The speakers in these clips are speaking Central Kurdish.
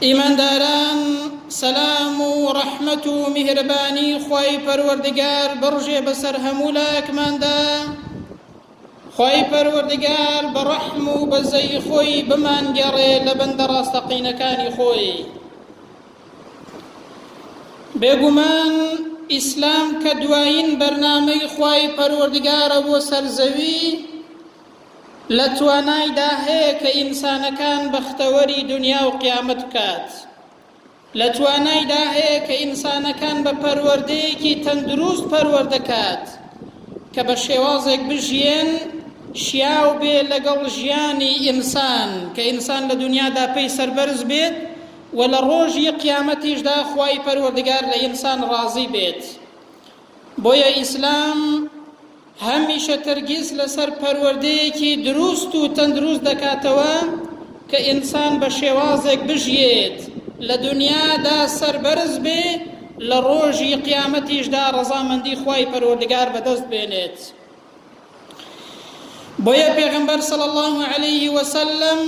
ئیمانداران سەلام و ڕەحمەت و میهرەبانی خوای پەروەردگار بڕژێ بەسەر هەموو لایەکماندا خوای پەروەردگار بە ڕەحم و بەزەی خۆی بمانگەڕێ لە بەندە ڕاستەقینەکانی خۆی بێگومان ئیسلام کە دوایین بەرنامەی خوای پەروەردگارە بۆ سەرزەوی لە توانایدا هەیە کە ئینسانەکان بەختەوەری دنیا و قیامەت بکات لە توانایدا هەیە کە ئینسانەکان بە پەروەردەیەکی تەندروست پەروەردەکات کە بە شێوازێک بژیێن شیاو بێ لەگەڵ ژیانی ئینسان کە ئینسان لە دنیادا پێی سەربەرز بێت و لە ڕۆژی قیامەتیشدا خوای پەروەردگار لە ئینسان ڕازی بێت بۆیە ئیسلام هەمیشە تەرگیز لەسەر پەروەردەیەکی دروست و تەندروست دەکاتەوە کە ئینسان بە شێوازێک بژیێت لە دنیادا سەربەرز بێ لە ڕۆژی قیامەتیشدا ڕەزامەندی خوای پەروەردگار بەدەست بێنێت بۆیە پێغەمبەر صلی الله علیه وسلم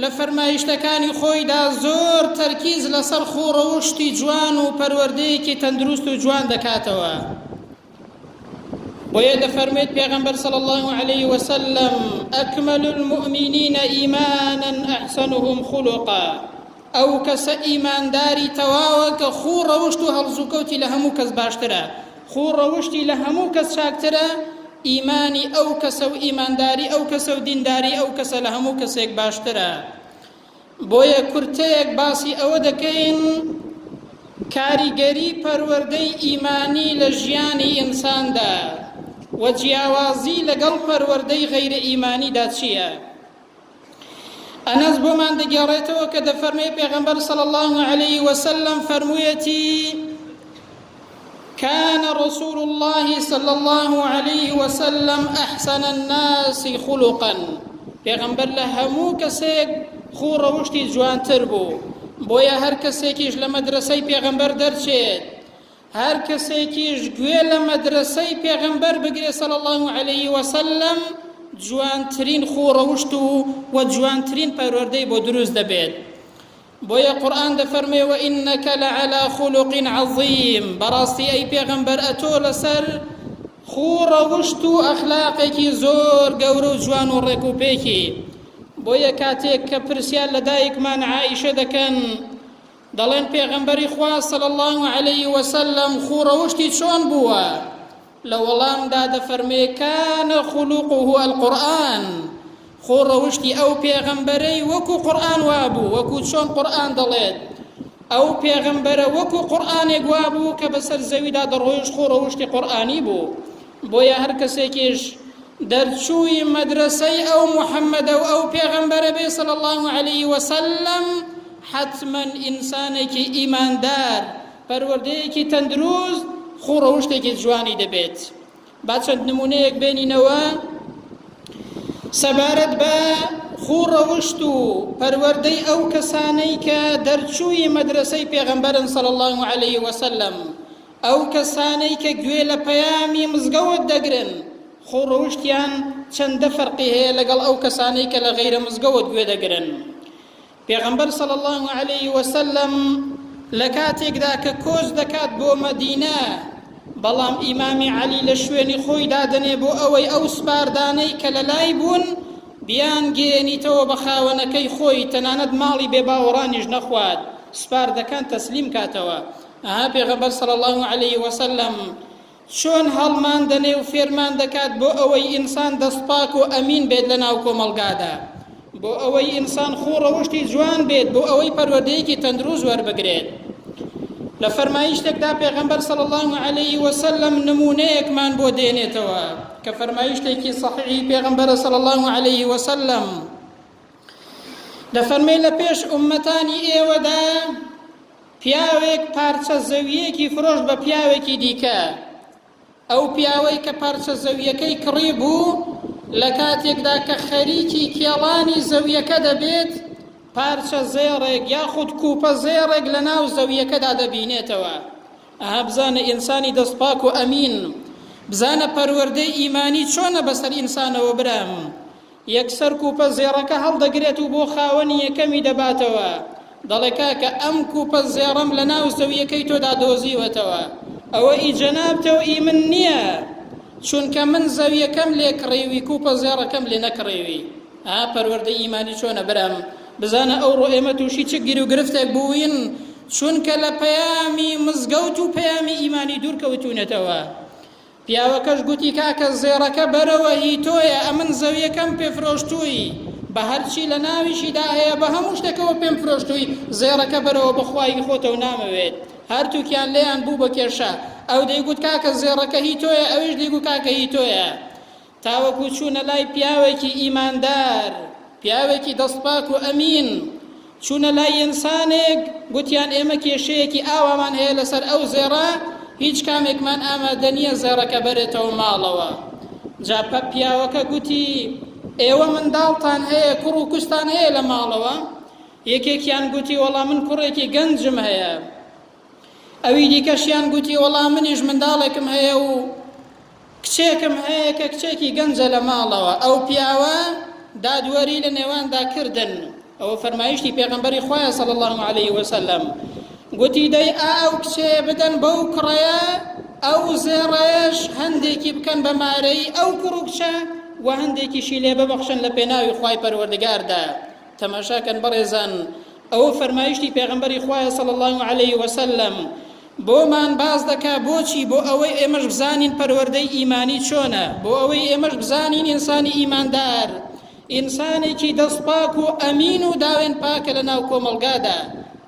لە فەرمایشتەکانی خۆیدا زۆر تەرکیز لەسەر خۆ ڕەوشتی جوان و پەروەردەیەکی تەندروست و جوان دەکاتەوە بۆیە دەفەرمێت پێغەمبەر صلی الله علیه وسلم اکمل المؤمنین ایمانا احسنهم خلقا ئەو کەسە ئیمانداری تەواوە کە خوو ڕەوشت و هەڵزوکەوتی لە هەموو کەس باشترە، خوو ڕەوشتی لە هەموو کەس چاکترە، ئیمانی ئەو کەسە و ئیمانداری ئەو کەسە و دینداری ئەو کەسە لە هەموو کەسێک باشترە. بۆیە کورتەیەک باسی ئەوە دەکەین کاریگەری پەروەردەی ئیمانی لە ژیانی ئینساندا و جیاوازی لەگەڵ پەروەردەی غەیرە ئیمانیدا چییە؟ ئەنەس بۆمان دەگێڕێتەوە کە دەفەرمێ پێغەمبەر صلی الله علیه وسلم فەرموویەتی كان رسول الله صلى الله عليه وسلم أحسن الناس خلقا پیغمبر لە هەموو کەسێک خو ڕەوشتی جوانتر بوو بۆیە هەر کەسێکیش لە مەدرسەی پێغەمبەر دەرچێت هەر کەسێکیش گوێ لە مەدرەسەی پێغەمبەر بگرێ صلی الله علیه وسلم جوانترین خۆ ڕەوشت و و جوانترین پەروەردەی بۆ دروست دەبێت بۆیە قورآن دەفەرمێ و ئینەکە لە عەلا خولوقین عەظیم بەڕاستی ئەی پێغەمبەر ئەتۆ لەسەر خۆ ڕەوشت و ئەخلاقێکی زۆر گەورە و جوان و ڕێک و پێکی بۆیە کاتێک کە پرسیار لە دایکمان عائیشە دەکەن دەڵێن پێغەمبەری خوا صلی اللە علیە وسلم خوو ڕەوشتی چۆن بووە لە وەڵامدا دەفەرمێ کان خلوقه القرآن خوو ڕەوشتی ئەو پێغەمبەرەی وەکو قورآن وابوو وەکو چۆن قورآن دەڵێت ئەو پێغەمبەرە وەکو قورآنێک وابوو کە بەسەر زەویدا دەڕۆیشت خوو ڕەوشتی قورآنی بوو بۆیە هەر کەسێکیش دەرچووی مەدرەسەی ئەو محەممەدە و ئەو پێغەمبەرە بێ صلی الله علیه وسلم حتما ئینسانێکی ئیماندار پەروەردەیەکی تەندروست خوڕەوشتێکی جوانی دەبێت با چەند نمونەیەک بێنینەوە سەبارەت بە خوڕەوشت و پەروەردەی ئەو کەسانەی کە دەرچووی مەدرسەی پێغەمبەرن صلی الله عليه وسلم ئەو کەسانەی کە گوێ لە پەیامی مزگەوت دەگرن خۆ ڕەوشتیان چەندە فەرقی هەیە لەگەڵ ئەو کەسانەی کە لە غەیرە مزگەوت گوێ دەگرن پێغەمبەر صلی الله علیه وسلم لە کاتێکدا کە کۆچ دەکات بۆ مەدینە بەڵام ئیمامی عەلی لە شوێنی خۆی دادەنێ بۆ ئەوەی ئەو سپاردانەی کە لە لای بوون بیان گەێنیتەوە بە خاوەنەکەی خۆی تەنانەت ماڵی بێ باوەڕانیش نەخوات سپاردەکان تەسلیم کاتەوە ئەها پێغەمبەر صلی اللە علیە وسلم چۆن هەڵمان دەنێ و فێرمان دەکات بۆ ئەوەی ئینسان دەستپاک و ئەمین بێت لە ناو کۆمەڵگادا بۆ ئەوەی ئینسان خوو ڕەوشتی جوان بێت بۆ ئەوەی پەروەردەیەکی تەندروست وەربگرێت لە فەرمایشتێکدا پێغەمبەر صلی الله علیه وسلم نمونەیەکمان بۆ دێنێتەوە کە فەرمایشتێکی صحیحی پێغەمبەر صلی الله علیه وسلم دەفەرمێ لە پێش ئومەتانی ئێوەدا پیاوێک پارچە زەوییەکی فرۆشت بە پیاوێکی دیکە. ئەو پیاوەی کە پارچە زەوییەکەی کڕی بوو، لە کاتێکدا کە خەریکی کێڵانی زەوییەکە دەبێت، پارچە زێڕێک یاخود کوپە زێڕێک لە ناو زەوییەکەدا دەبینێتەوە. ئەها بزانە ئینسانی دەست پاک و ئەمین، بزانە پەروەردەی ئیمانی چۆنە بەسەر ئینسانەوە برام، یەکسەر کوپە زێڕەکە هەڵدەگرێت و بۆ خاوەنی یەکەمی دەباتەوە، دەڵێ کاکە ئەم کوپە زێڕەم لە ناو زەویەکەی تۆدا دۆزیوەتەوە، ئەوە ئی جەنابتە و ئی من نیە، چونکە من زەویەکەم لێ کڕیوی کوپە زێڕەکەم لێ نەکڕیوی. ئا پەروەردەی ئیمانی چۆنە برام، بزانە ئەوڕۆ ئێمە تووشی چ گیروگرفتێک بووین، چونکە لە پەیامی مزگەوت و پەیامی ئیمانی دوور کەوتوینەتەوە. پیاوەکەش گوتی کاکە زێڕەکە بەرەوە هی تۆیە ئەمن زەویەکەم پێ فرۆشتووی بە هەرچی لە ناویشیدا هەیە بە هەموو شتەکەوە پێم فرۆشتووی زێڕەکە بەرەوە بەخوا هی خۆتەو نامەوێت هەرتووکیان لێیان بوو بە کێشە ئەو دەیگوت کاکە زێڕەکە هی تۆیە ئەویش دەیگوت کاکە هی تۆیە تاوەکو چوونە لای پیاوێکی ئیماندار، پیاوێکی دەستپاک و ئەمین، چوونە لای ئینسانێک، گوتیان ئێمە کێشەیەکی ئاوامان هەیە لەسەر ئەو زێڕە، هیچ کامێکمان ئامادە نییە زێڕەکە بەرێتەوە ماڵەوە. جا پیاوەکە گوتی، ئێوە منداڵتان هەیە، کوڕ و کچتان هەیە لە ماڵەوە؟ یەکێکیان گوتی، وەڵا من کوڕێکی گەنجم هەیە، ئەوی دیکەشیان گوتی وەڵا منیش منداڵێکم هەیە و کچێکم هەیە کە کچێکی گەنجە لە ماڵەوە ئەو پیاوە دادوەری لە نێواندا کردن ئەوە فەرمایشتی پێغمبەری خۆیان سەڵ الله عليه وسلم گوتی دەی ئا ئەو کچێ بدەن بەو کوڕەیە ئەو زێڕەیەش هەندێکی بکەن بە مارەی ئەو کوڕ و کچە و هەندێکیشی لێ ببەخشن لە پێناوی خی پەروەردگاردا تەماشا کەن بەڕێزان ئەوە فەرمایشتی پێغەمبەری خوایە صلی اللە علیه وسلم بۆمان باس دەکا بۆچی بۆ ئەوەی ئێمەش بزانین پەروەردەی ئیمانی چۆنە بۆ ئەوەی ئێمەش بزانین ئینسانی ئیماندار ئینسانێکی دەستپاک و ئەمین و داوێن پاکە لە ناو کۆمەڵگادا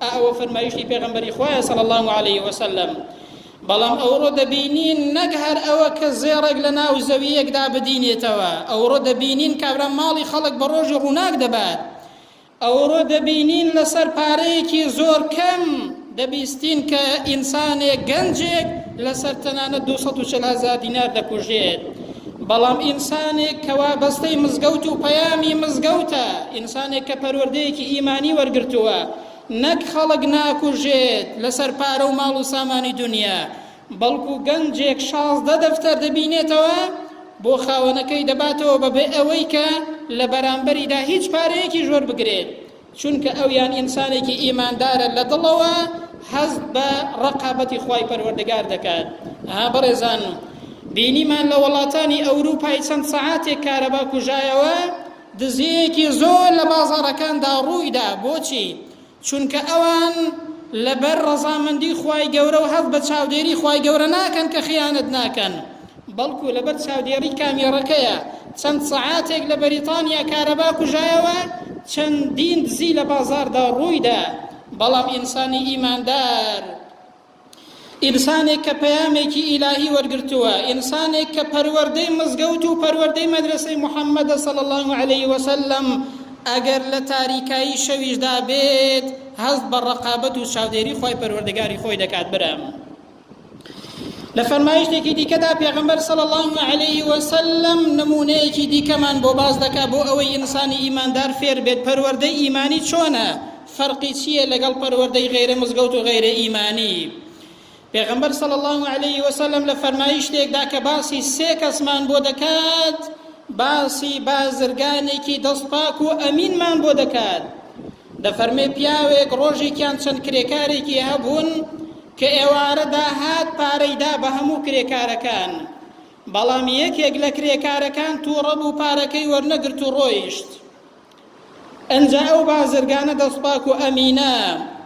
ئەوە فەرمایشتی پێغەمبەری خوایە صلی الله علیه وسلم بەڵام ئەوڕۆ دەبینین نەک هەر ئەوە کە زێڕێک لە ناو زەوییەکدا بدینێتەوە، ئەوڕۆ دەبینین کابرا ماڵی خەڵک بە ڕۆژی ڕووناک دەبات، ئەوڕۆ دەبینین لەسەر پارەیەکی زۆر کەم دەبیستین کە ئینسانێک، گەنجێک لەسەر تەنانەت دوو سەد و چل هەزار دینار دەکوژێت، بەڵام ئینسانێک کە وابەستەی مزگەوت و پەیامی مزگەوتە، ئینسانێک کە پەروەردەیەکی ئیمانی وەرگرتووە، نەک خەڵک ناکوژێت لەسەر پارە و ماڵ و سامانی دونیا، بەڵکو گەنجێک شازدە دەفتەر دەبینێتەوە بۆ خاوەنەکەی دەباتەوە بەبێ ئەوەی کە لە بەرامبەریدا هیچ پارەیەکیش وەربگرێت، چونکە ئەویان ئینسانێکی ئیماندارە لە دڵەوە هەست بە ڕەقابەتی خوای پەروەردگار دەکات. ئەها بەڕێزان بینیمان لە وەڵاتانی ئەوروپای چەند سەعاتێک کارەبا کوژایەوە دزییەکی زۆر لە بازاڕەکاندا ڕوویدا، بۆچی؟ چونکە ئەوان لەبەر ڕەزامەندی خوای گەورە و هەست بە چاودێری خوای گەورە ناکەن کە خیانەت ناکەن، بەڵکو لەبەر چاودێڕی کامێڕەکەیە، چەند سەعاتێک لە بەریتانیا کارەبا کوژایەوە، چەندین دزی لە بازاڕدا ڕوویدا، بەڵام ئینسانی ئیماندار. ئینسانێک کە پەیامێکی ئیلاهی وەرگرتووە، ئینسانێک کە پەروەردەی مزگەوت و پەروەردەی مەدرەسەی محەممەدە صلی اللە علیە وسلم، ئەگەر لە تاریکایی شەویشدا بێت هەست بە ڕەقابەت و چاودێری خوای پەروەردگاری خۆی دەکات برام. لە فەرمایشتێکی دیکەدا پێغەمبەر صلی اللە علیه وسلم نمونەیەکی دیکەمان بۆ باس دەکات بۆ ئەوەی ئینسانی ئیماندار فێر بێت پەروەردەی ئیمانی چۆنە فەرقی چیە لەگەڵ پەروەردەی غەیرە مزگەوت و غەیرە ئیمانی؟ پێغەمبەر صلی الله علیه و سلم لە فەرمایشتێکدا کە باسی سێ کەسمان بۆ دەکات باسی بازرگانێکی دەست پاک و ئەمینمان بۆ دەکات دەفەرمێ پیاوێک ڕۆژێکیان چەند کرێکارێکی هەبوون کە ئێوارەدا هات پارەیدا بە هەموو کرێکارەکان بەڵام یەکێک لە کرێکارەکان تووڕە بوو پارەکەی وەرنەگرت و ڕۆیشت ئنجا ئەو بازرگانە دەستپاک و ئەمینە،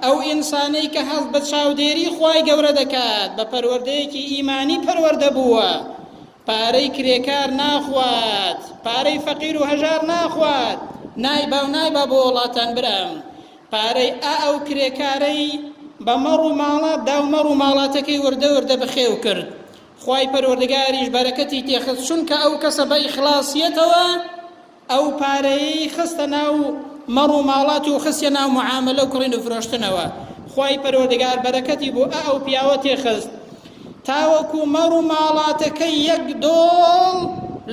ئەو ئینسانەی کە هەست بە چاودێری خوای گەورە دەکات، بە پەروەردەیەکی ئیمانی پەروەردە بووە، پارەی کرێکار ناخوات، پارەی فەقیر و هەژار ناخوات، نایبا و نایبا بۆ وڵاتان برام، پارەی ئا ئەو کرێکارەی بە مەڕ و ماڵات دا و مەڕ و ماڵاتەکەی وردە وردە بەخێو کرد، خوای پەروەردگاریش بەرەکەتی تێخست، چونکە ئەو کەسە بە ئیخڵاسیەتەوە، ئەو پارەیەی خستە ناو مەڕ و ماڵات و خستیە ناو معامەلە و کڕین و فرۆشتنەوە خوای پەروەردگار بەرەکەتی بۆ ئە ئەو پیاوە تێ خست تاوەکو مەڕ و ماڵاتەکەی یەک دۆڵ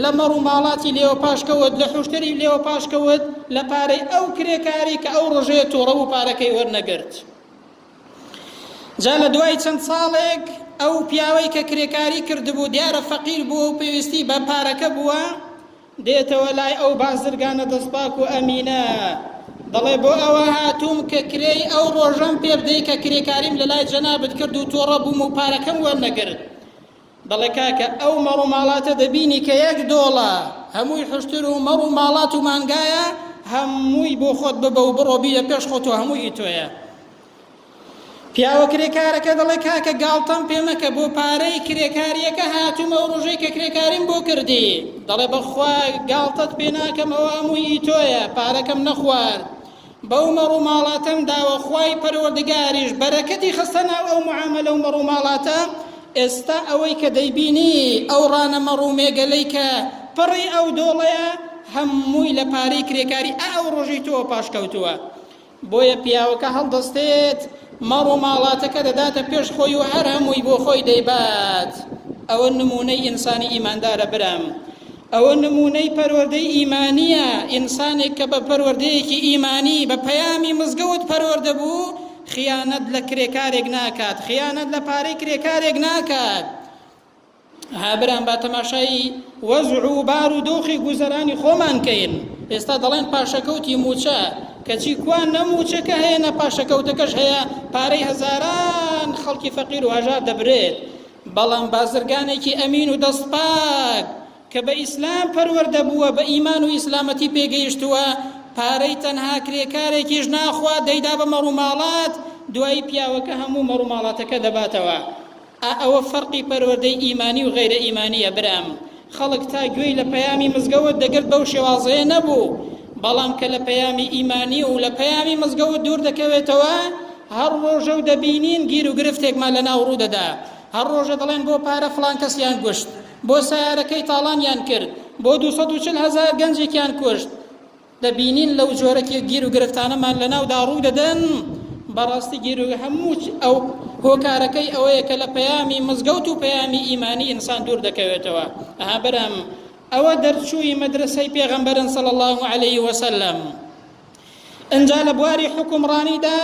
لە مەڕ و ماڵاتی لێوە پاش کەوت لە حوشتری لێوە پاش کەوت لە پارەی ئەو کرێکاری کە ئەو ڕژێ تووڕە و پارەکەی وەرنەگرت جا لە دوای چەند ساڵێک ئەو پیاوەی کە کرێکاری کردبوو دیارە فەقیر بووە و پێویستی بە پارەکە بووە دێتەوە لای ئەو بازرگانە دەستپاک و ئەمینە، دەڵێ بۆ ئەوە هاتووم کە کرێی ئەو ڕۆژەم پێ بدەی کە کرێکاریم لە لای جەنابت کرد و تۆڕە بووم و پارەکەم وەرنەگرت. دەڵێ کاکە ئەو مەڕ و ماڵاتە دەبینی کە یەک دۆڵە هەمووی حوشتر و مەڕ و ماڵات و مانگایە، هەمووی بۆ خۆت ببە و بڕۆ بیدە پێش خۆت و هەمووی تۆیە. پیاوە کرێکارەکە دەڵێ کاکە گاڵتەم پێ مەکە بۆ پارەی کرێکاریەکە هاتووم ئەو ڕۆژەی کە کرێکاریم بۆ کردی دەڵێ بەخوا گاڵتەت پێ ناکەم ئەوە هەمووی تۆیە پارەکەم نەخوارد بەو مەڕوماڵاتەم داوە خوای پەروەردگاریش بەرەکەتی خستە ناو ئەو معاملە و مەڕوماڵاتە ئێستا ئەوەی کە دەیبینی ئەو ڕانە مەڕومێگەلەی کە پڕی ئەو دۆڵەیە هەمووی لە پارەی کرێکاری ئەو ڕۆژی تۆ پاشکەوتووە بۆیە پیاوەکە هەڵدەستێت ماڵ و ماڵاتەکە دەداتە پێش خۆی و هەر هەمووی بۆ خۆی دەیبات ئەوە نمونەی ئینسانی ئیماندارە برام ئەوە نمونەی پەروەردەی ئیمانیە ئینسانێک کە بە پەروەردەیەکی ئیمانی بە پەیامی مزگەوت پەروەردە بوو خیانەت لە کرێکارێک ناکات خیانەت لە پارەی کرێکارێک ناکات ها برام با تەماشایی وەزع و بار و دۆخی گوزەرانی خۆمان کەین ئێستا دەڵێن پاشەکەوتی موچە کەچی کوا نەموچەکە هەیە نە پاشەکەوتەکەش هەیە پارەی هەزاران خەڵکی فەقیر و هەژار دەبرێت بەڵام بازرگانێکی ئەمین و دەستپاک کە بە ئیسلام پەروەردە بووە بە ئیمان و ئیسلامەتی پێگەیشتووە پارەی تەنها کرێکارێکیش ناخوا دەیدا بە مەڕوماڵات دوایی پیاوەکە هەموو مەڕوماڵاتەکە دەباتەوە ئا ئەوە فەرقی پەروەردەی ئیمانی و غەیرە ئیمانیە برام خەڵک تا گوێی لە پەیامی مزگەوت دەگرت بەو شێوازەیە نەبوو بەڵام کە لە پەیامی ئیمانی و لە پەیامی مزگەوت دوور دەکەوێتەوە هەر ڕۆژە و دەبینین گیر و گرفتێکمان لە ناو ڕوو دەدا هەر ڕۆژە دەڵێن بۆ پارە فلان کەسیان گوشت بۆ سیارەکەی تاڵانیان کرد بۆ 240 هزار گەنجێکیان کوشت دەبینین لەو جۆرە گیر و گرفتانەمان لەناودا ڕوو دەدەن بەڕاستی گیر و هەموو ئەو هۆکارەکەی ئەوەیە کە لە پەیامی مزگەوت و پەیامی ئیمانی ئینسان دوور دەکەوێتەوە ئەها برام ئەوە دەرچووی مەدرسەی پێغەمبەرن صلی الله عليه وسلم ئەنجا لە بواری حکومڕانیدا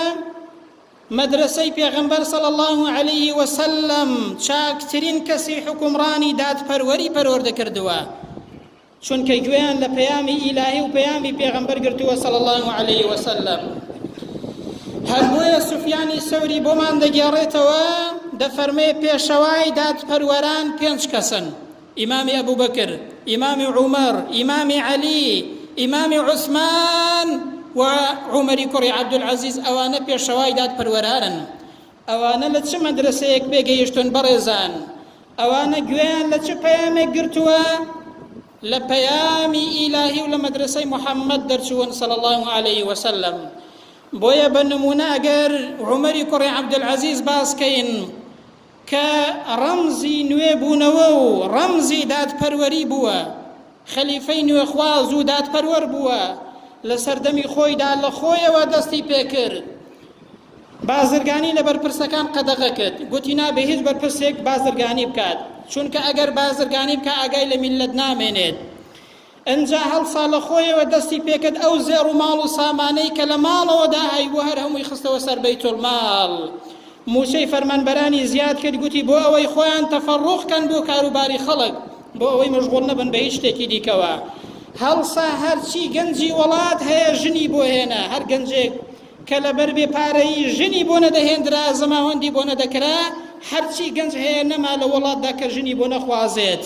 مەدرسەی پێغەمبەر صلی الله عليه وسلم چاکترین کەسی حکومڕانی دادپەروەری پەروەردە کردووە چونکە گوێیان لە پەیامی ئیلاهی و پەیامی پێغەمبەر گرتووە صلی اللە علیه وسلم هەر بۆیە سفیانی سەوری بۆمان دەگێڕێتەوە دەفەرمێ پێشەوای دادپەروەران پێنج کەسن ئیمامی ئەبوو بەکر ئیمامی عومەر ئیمامی عەلی ئیمامی عوسمان و عومەری کوڕی عەبدولعەزیز ئەوانە پێشەوای دادپەروەرانن ئەوانە لە چ مەدرسەیەک پێگەیشتون بەڕێزان ئەوانە گوێیان لە چ پەیامێک گرتووە لە پەیامی ئیلاهی و لە مەدرسەی محەممەد دەرچوون صلی الله علیه وسلم بۆیە بە نمونە ئەگەر عمەری کوڕی عەبدولعەزیز باسکەین کە ڕەمزی نوێ بوونەوە و ڕەمزی دادپەروەری بووە خەلیفەی نوێخواز و دادپەروەر بووە لە سەردەمی خۆیدا لە خۆیەوە دەستی پێکرد بازرگانی لە بەرپرسەکان قەدەغە کرد گوتی نابێ هیچ بەرپرسێک بازرگانی بکات چونکە ئەگەر بازرگانی بکە ئاگای لە میللەت نامێنێت ئەنجا هەڵسا لە خۆیەوە دەستی پێکرد ئەو زێڕ و ماڵ و سامانەی کە لە ماڵەوەدا هەیبوو هەر هەمووی خستەوە سەر بەیتولماڵ موچەی فەرمانبەرانی زیاد کرد گوتی بۆ ئەوەی خۆیان تەفەڕوخکەن بۆ کاروباری خەڵک بۆ ئەوەی مەشغوڵ نەبن بە هیچ شتێکی دیکەوە هەڵسا هەرچی گەنجی وڵات هەیە ژنی بۆ هێنا هەر گەنجێک کە لەبەر بێ پارەیی ژنی بۆ نەدەهێندرا زەماوەندی بۆ نەدەکرا، هەرچی گەنج هەیە نەما لە وەڵاتدا کە ژنی بۆ نەخوازێت.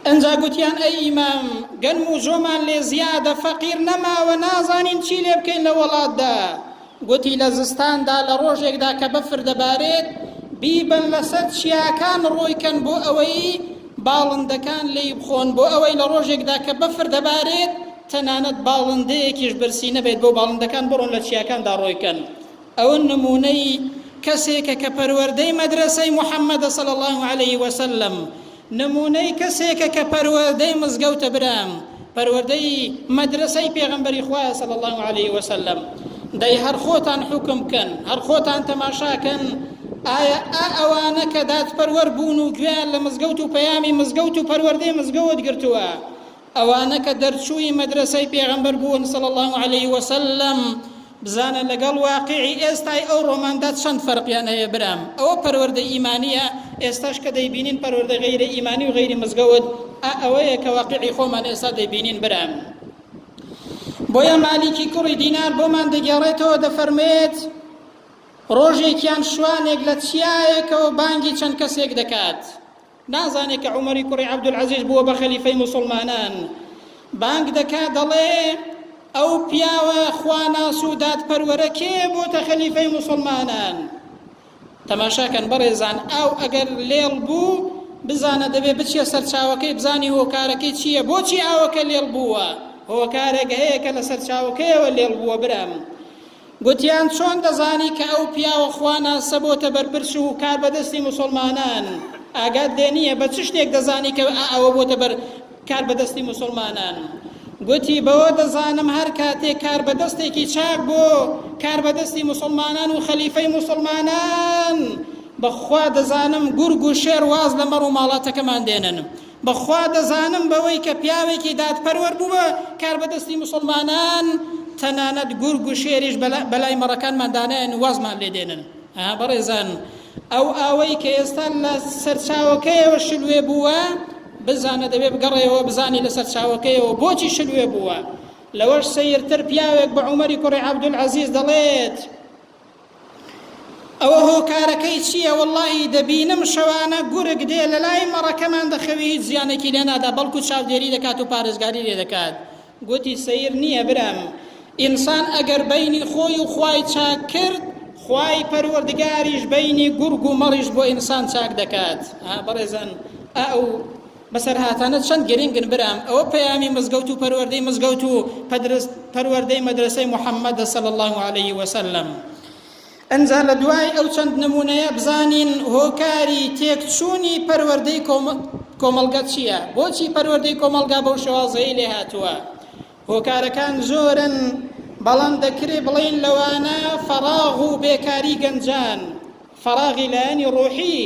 ئنجا گوتیان ئەی ئیمام گەنم و جۆمان لێ زیادە فەقیر نەماوە نازانین چی لێ بکەین لە وەڵاتدا. گوتی لە زستاندا لە ڕۆژێکدا کە بەفر دەبارێت بیبەن لەسەر چیاکان ڕۆیکەن بۆ ئەوەی باڵندەکان لێی بخۆن بۆ ئەوەی لە ڕۆژێکدا کە بەفر دەبارێت تەنانەت باڵندەیەکیش برسی نەبێت بۆ باڵندەکان بڕۆن لە چیاکاندا ڕۆی کەن ئەوە نمونەی کەسێکە کە پەروەردەی مەدرەسەی محمدە صلی اللە علیە وسلم نمونەی کەسێکە کە پەروەردەی مزگەوتە برام پەروەردەی مەدرەسەی پێغەمبەری خوایە صلی اللە علیە وسلم دەی هەر خۆتان حوکم کەن هەر خۆتان تەماشاکەن ئایا ئا ئەوانە کە دادپەروەر بوون و گوێیان لە مزگەوت و پەیامی مزگەوت و پەروەردەی مزگەوت گرتووە ئەوانە کە دەرچووی مەدرەسەی پێغەمبەر بوون صلی اللە علیه وسلم بزانە لەگەڵ واقعی ئێستای ئەو ڕۆماندا چەند فەرقیان هەیە برام ئەوە پەروەردە ئیمانیە ئێستاش کە دەیبینین پەروەردە غەیرە ئیمانی و غەیری مزگەوت ئا ئەوەیە کە واقعی خۆمان ئێستا دەیبینین برام بۆیە مالیکی کوڕی دینار بۆمان دەگێڕێتەوە دەفەرمێت ڕۆژێکیان شوانێک لە چیایەکەوە بانگی چەند کەسێک دەکات نازانێ کە عومەری کوڕی عەبدولعەزیز بووە بە خەلیفەی موسڵمانان بانگ دەکا دەڵێ ئەو پیاوە خواناس و دادپەروەرە کێ بۆتە خەلیفەی موسڵمانان تەماشاکەن بەڕێزان ئاو ئەگەر لێڵ بوو بزانە دەبێ بچیە سەرچاوەکەی بزانی هۆکارەکەی چییە بۆچی ئاوەکە لێڵ بووە هۆکارێک هەیە کە لە سەرچاوەکەیەوە لێڵ بووە برام گوتیان چۆن دەزانی کە ئەو پیاوە خوا ناسە بۆتە بەرپرس و کاربەدەستی موسڵمانان ئاگات لێ نییە بە چ شتێک دەزانی کە ئەوە بۆتە بەر کاربەدەستی موسڵمانان گوتی بەوە دەزانم هەر کاتێک کاربەدەستێکی چاک بۆ کاربەدەستی موسڵمانان و خەلیفەی موسڵمانان بەخوا دەزانم گورگ و شێر واز لە مەڕ و ماڵاتەکەمان دێنن بەخوا دەزانم بەوەی کە پیاوێکی دادپەروەر بووبە کاربەدەستی موسڵمانان تەنانەت گورگ و شێریش بەلای مەڕەکانمان دانایەن و وازمان لێ دێنن. ئا بەڕێزان ئەو ئاوەی کە ئێستا لە سەرچاوەکەیەوە شلوێ بووە بزانە دەبێ بگەڕێیەوە بزانی لە سەرچاوەکەیەوە بۆچی شلوێ بووە. لەوەش سەیرتر پیاوێک بە عومەری کوڕی عەبدولعەزیز دەڵێت، ئەوە هۆکارەکەی چییە وەڵڵاهی دەبینم شەوانە گورگ دێ لە لای مەڕەکەمان دەخەوی هیچ زیانێکی لێ نادا بەڵکو چاودێری دەکات و پارێزگاری لێ دەکات گوتی سەیر نییە برام ئینسان ئەگەر بینی خۆی و خوای چاک کرد خوای پەروەردگاریش بینی گورگ و مەڕیش بۆ ئینسان چاک دەکات ها بەڕێزان ئەو بەسەرهاتانە چەند گرینگن برام ئەوە پەیامی مزگەوت و پەروەردەی مزگەوت و پەروەردەی مەدرسەی محەممەدە صلی الله علیه وسلم ئەنجا لە دوای ئەو چەند نمونەیە بزانین هۆکاری تێکچوونی پەروەردەی کۆمەڵگە چییە بۆچی پەروەردەی کۆمەڵگا بەو شێوازەیە لێ هاتووە هۆکارەکان زۆرن، بەڵام دەکرێ بڵێین لەوانە فەراغ و بێکاری گەنجان، فەراغی لایەنی ڕۆحی،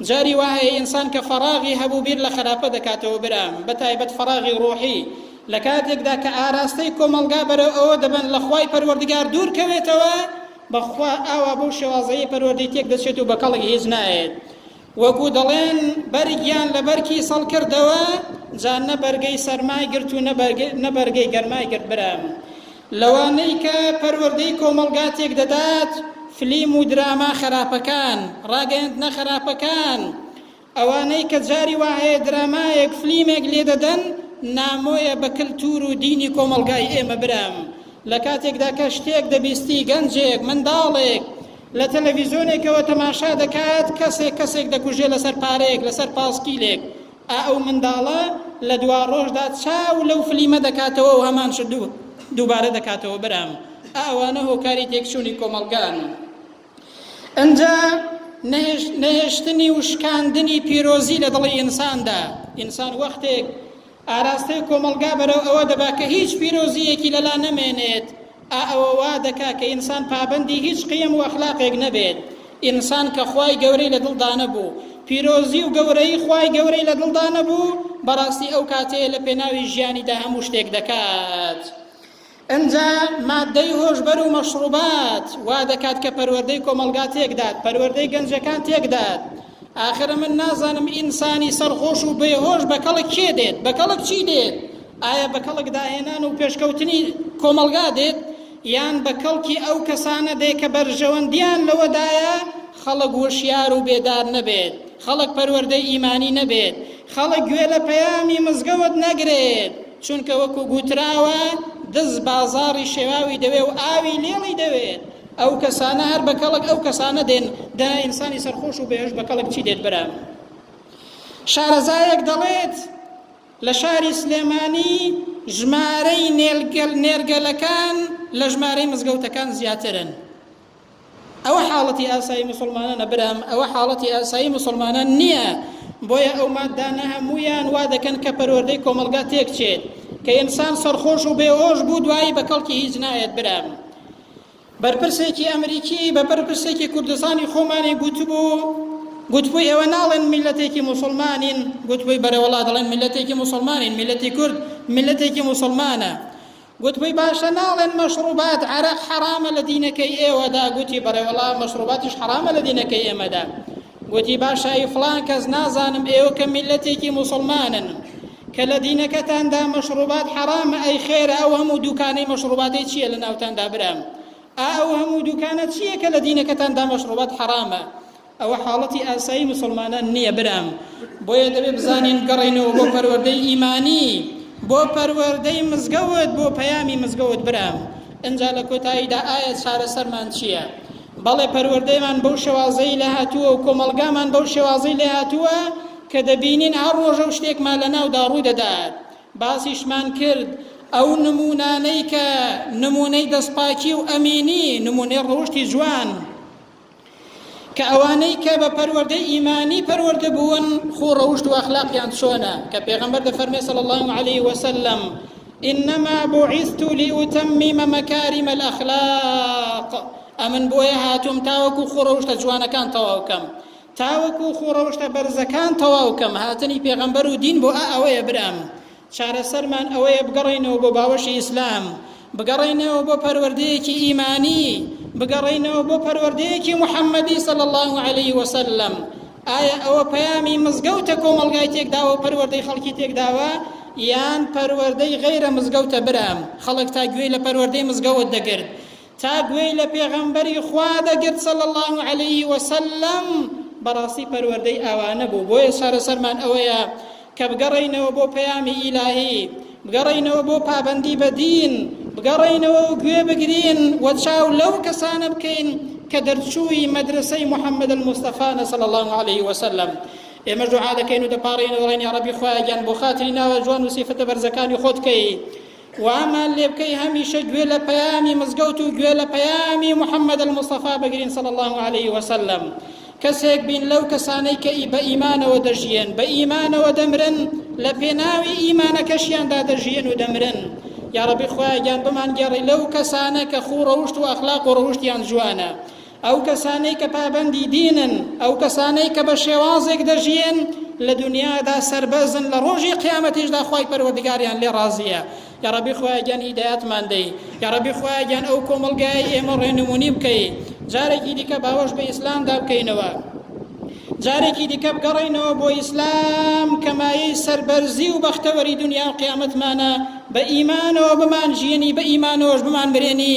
جاری وا هەیە ئینسان کە فەراغی هەبوو بیر لە خەراپە دەکاتەوە برام، بە تایبەت فەراغی ڕۆحی، لە کاتێکدا کە ئاراستەی کۆمەڵگا بەرەو ئەوە دەبەن لە خوای پەروەردگار دوور کەوێتەوە، بەخوا ئاوا بەو شێوازەیە پەروەردەی تێک دەچێت و بە کەڵک هیچ نایەت. وەکو دەڵێن بەرگیان لە بەر کیسەڵ کردەوە جا نە بەرگەی سەرمای گرت و نە بەرگەی گەرمای گرت برام لەوانەی کە پەروەردەی کۆمەڵگا تێک دەدات فلیم و دراما خراپەکان ڕاگەیاندنە خراپەکان ئەوانەی کە جاری وا هەیە درامایەک فلیمێک لێ دەدەن نامۆیە بە کلتور و دینی کۆمەڵگای ئێمە برام لە کاتێکدا کە شتێک دەبیستی گەنجێک منداڵێک لە تەلەڤیزۆنێکەوە تەماشا دەکات کەسێک کەسێک دەکوژێ لەسەر پارەیەک لەسەر پاسکیلێک ئا ئەو منداڵە لە دوا ڕۆژدا چاو لەو فلیمە دەکاتەوە و هەمان شت دوو دووبارە دەکاتەوە برام ئا ئەوانە هۆکاری تێکچوونی کۆمەڵگان ئەنجا نەهێشتنی و شکاندنی پیرۆزی لە دڵی ئینساندا ئینسان وەختێک ئاراستەی کۆمەڵگا بەرەو ئەوە دەبا کە هیچ پیرۆزییەکی لەلا نەمێنێت، ئا ئەوە وا دەکا کە ئینسان پابەندی هیچ قیەم و ئەخلاقێک نەبێت. ئینسان کە خوای گەورەی لە دڵدا نەبوو، پیرۆزی و گەورەیی خوای گەورەی لە دڵدا نەبوو، بەڕاستی ئەو کاتەیە لە پێناوی ژیانیدا هەموو شتێک دەکات. ئنجا ماددەی هۆشبەر و مەشڕوبات وا دەکات کە پەروەردەی کۆمەڵگا تێکدات پەروەردەی گەنجەکان تێکدات ئاخر من نازانم ئینسانی سەرخۆش و بێهۆش بە کەڵک کێ دێت بە کەڵک چی دێت ئایا بە کەڵک داهێنان و پێشکەوتنی کۆمەڵگا دێت یان بە کەڵکی ئەو کەسانە دێ کە بەرژەوەندیان لەوەدایە خەڵک وشیار و بێدار نەبێت خەڵک پەروەردەی ئیمانی نەبێت خەڵک گوێ لە پەیامی مزگەوت نەگرێت چونکە وەکو گوتراوە دز بازاڕی شێواوی دەوێ و ئاوی لێڵی دەوێت ئەو کەسانە هەر بە کەڵک ئەو کەسانە دێن دا ئینسانی سەرخۆش و بێژ بە کەڵک چی دێت برام شارەزایەک دەڵێت لە شاری سلێمانی ژمارەی نێرگەلەکان لە ژمارەی مزگەوتەکان زیاترن ئەوە حاڵەتی ئاسایی مسلمانانە برام ئەوە حاڵەتی ئاسایی مسلمانان نییە بۆیە ئەو مادانە هەمویان وا دەکەن کە پەروەردەی کۆمەلگا تێک چێت کە ئینسان سەرخۆش و بێهۆش بوو دوایی بە کەڵکی هیچ نایەت برام بەرپرسێکی ئەمریکی بە بەرپرسێکی کوردستانی خۆمانی گوتبوو گوتبووی ئێوە ناڵێن میلەتێکی مسلمانین گوتبووی بەرەوەڵا دەڵێن میلەتێکی مسلمانین میلەتی کورد میلەتێکی مسلمانە گوتبوی باشە ناڵێن مەشڕوبات عەرەق حەرامە لە دینەکەی ئێوەدا گوتی بەڕێوەڵا مەشڕوباتیش حەرامە لە دینەکەی ئێمەدا گوتی باشە ئی فڵان کەس نازانم ئێوە کە میلەتێکی موسڵمانن کە لە دینەکەتاندا مەشڕوبات حەرامە ئەی خێرە ئەو هەموو دوکانەی مەشڕوباتی چییە لە ناوتاندا برام ئا ئەو هەموو دوکانە چییە کە لە دینەکەتاندا مەشڕوبات حەرامە ئەوە حاڵەتی ئاسایی موسڵمانان نیە برام بۆیە دەبێ بزانین گەڕێنەوە بۆ پەروەردەی ئیمانی بۆ پەروەردەی مزگەوت بۆ پەیامی مزگەوت برام ئەجا لە کۆتاییدا ئایا چارەسەرمان چییە بەڵێ پەروەردەیمان بەو شێوازەی لە هاتووە و کۆمەڵگامان بەو شێوازەی لە هاتووە کە دەبینین هەر ڕۆژە و شتێکمان لە ناودا ڕوو دەدات باسیشمان کرد ئەو نمونانەی کە نمونەی دەستپاکی و ئەمینی نمونەی ڕەوشتی جوان کە ئەوانەی کە بە پەروەردەی ئیمانی پەروەردە بوون خۆ ڕەوشت و ئەخلاقیان چۆنە کە پێغەمبەر دەفەرمێ صلی الله علیه وسلم إنما بعثت لأتمم مكارم الأخلاق ئەمن بۆیە هاتووم تاوەکو خۆڕەوشتە جوانەکان تەواوکەم تاوەکو خۆڕەوشتە بەرزەکان تەواوکەم هاتنی پێغەمبەر و دین بۆ ئا ئەوەیە برام چارەسەرمان ئەوەیە بگەڕێینەوە بۆ باوەشی ئیسلام، بگەڕێینەوە بۆ پەروەردەیەکی ئیمانی، بگەڕێینەوە بۆ پەروەردەیەکی محەمەدی صلی اللە علیە وسلم. ئایا ئەوە پەیامی مزگەوتە کۆمەڵگای تێکداوەو پەروەردەی خەڵکی تێکداوە؟ یان پەروەردەی غەیرە مزگەوتە برام؟ خەڵک تا گوێی لە پەروەردەی مزگەوت دەگرت، تا گوێی لە پێغەمبەری خوا دەگرت صلی اللە علیە وسلم بەڕاستی پەروەردەی ئاوانە بوو بۆیە چارەسەرمان ئەوەیە کە بگەڕینەوە بۆ پەیامی ئیلاهی بگەڕینەوە بۆ پابەندی بە دین بگەڕینەوە و گوێ بگرین و چاو لەو کەسانە بکەین کە دەرچووی مەدرسەی محەممەد المستەفانە صلی الله عليه وسلم ئێمە دوعا دەکەین و دەپاڕین و ڕێنی عربی خوایان بۆ خاتری ناوە جوان و سیفەتە بەرزەکانی خۆت کەی وامان لێ بکەی هەمیشە گوێ لە پەیامی مزگەوت و گوێ لە پەیامی محمد المصطفی بگرین صلی الله علیه وسلم کەسێک بین لەو کەسانەی کە بە ئیمانەوە دەژیێن بە ئیمانەوە دەمرن لە پێناوی ئیمانەکەشیاندا دەژیێن و دەمرن یاڕەبی خۆیان گیان بمان گێڕی لەو کەسانە کە خوو ڕەوشت و ئەخلاق و ڕەوشتیان جوانە ئەو کەسانەی کە پابەندی دینن، ئەو کەسانەی کە بە شێوازێک دەژیێن لە دونیادا سەربەرزن لە ڕۆژی قیامەتیشدا خوای پەروەردگاریان لێ ڕازیە. یاڕەبی خوایە گیان هیدایەتمان دەی. یاڕەبی خوایە گیان ئەو کۆمەڵگایەی ئێمە ڕێنمونی بکەی. جارێکی دیکە باوەش بە ئیسلامدا بکەینەوە. جارێکی دیکە بگەڕێینەوە بۆ ئیسلام کە مایەی سەربەرزی و بەختەوەری دنیا و قیامەتمانە بە ئیمانەوە بمان ژیێنی بە ئیمانەوەش بمان مرێنی